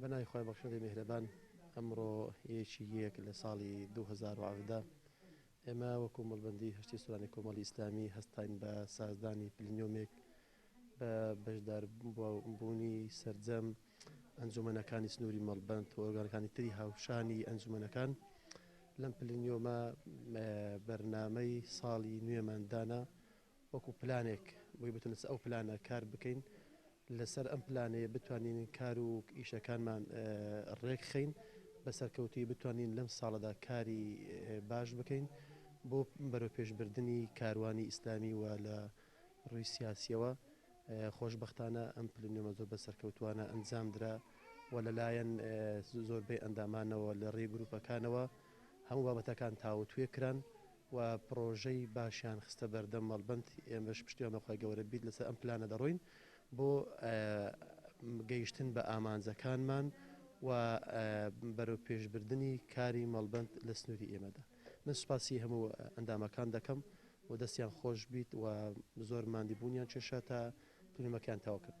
بە ناوی خوای بەخشندەی میهرەبان ئەمڕۆ ی یەک لە ساڵی دوو هەزار و حەڤدە ئێمە وەکو مەڵبەندی هەشتی سوورانی کۆمەڵی ئیسلامی هەستاین بە سازدانی پلنیۆمێک بە بەشداربوونی سەرجەم ئەنجومەنەکانی سنووری مەڵبەند و ئۆرگانەکانی تری هاوشانی ئەنجومەنەکان لەم پلنیۆمە بەرنامەی ساڵی نوێمان دانا وەکو پلانێک بۆی بتونس ئەو پلانە کار بکەین لەسەر ئەم پلانەیە بتوانین کار و ئیشەکانمان ڕێکخین بە سەرکەوتوی بتوانین لەم ساڵەدا کاری باش بکەین بۆ بەرەو پێشبردننی کاروانی ئیسلامی وە لە ئەم ڕووی سیاسییەوە، خۆشبەختانە ئەم پلنوێمە زۆر بە سەرکەوتووانە ئەنجامدرا و لەلایەن زۆربەی ئەندامانەوە لە ڕێی گرووپەکانەوە هەموو بابەتەکان تاوتوێ کران و پڕۆژەی باشیان خستە بەردەم مەڵبەند، ئێمەش پشتیوان بە خوای گەوەرە بیت لەسەر ئەم پلانە دەڕۆین بۆ گەیشتن بە ئامانجەکانمان و بەرەوپێشبردنی کاری مەڵبەند لە سنووری ئێمەدا. من سوپاسی هەموو ئەندامەکان دەکەم و دەستیان خۆش بیت و زۆر ماندی بوونیان کێشا تا فلیمەکەیان تەواو کرد.